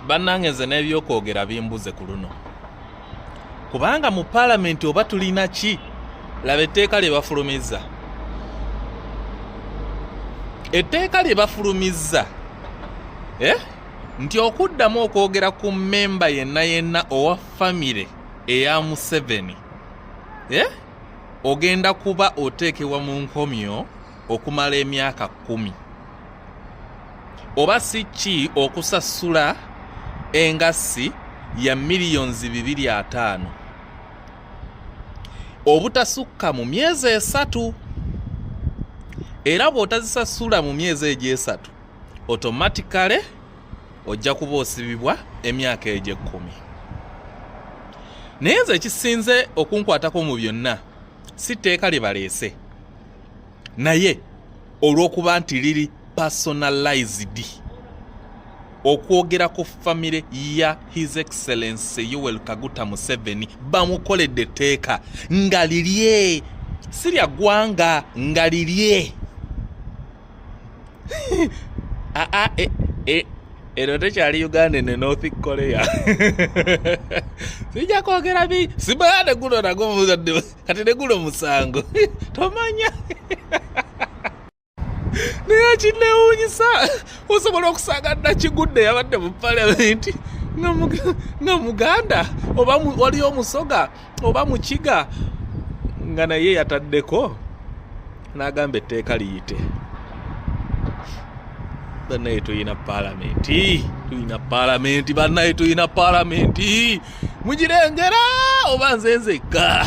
bannange nze n'ebyokwogera bimbuze ku luno kubanga mu paalamenti oba tulina ki laba etteeka lye bafulumizza etteeka lye bafulumizza eh? nti okuddamu okwogera ku mmemba yenna yenna owa famire eya museveni eh? ogenda kuba oteekebwa mu nkomyo okumala emyaka kkumi oba si ki okusasula engassi ya miliyonzi bibiri ataano obutasukka mu myezi esatu era bw'otazisasula mu myezi egyo esatu otomatikale ojja kuba osibibwa emyaka egyo ekkumi naye nze ekisinze okunkwatako mu byonna si tteeka lye baleese naye olw'okuba nti liri personalized okwogera ku famire ya his excellence yowel kaguta museveni bamukoledde etteeka nga lirye si lya ggwanga nga lirye ah, ah, eh, eh, eno tekyali uganda ne north korea sijja kwogera bi simaade guno nago muzadde kati negula omusango tomanya naye kinewunyisa osobola okusanga nakigudde yabadde mu palamenti nga muganda oba waliyo omusoga oba mukiga nga naye yataddeko n'agamba etteeka liyite banaye tulina palamenti tulina palamenti banaye tulina palamenti mugirengera oba nze nzekka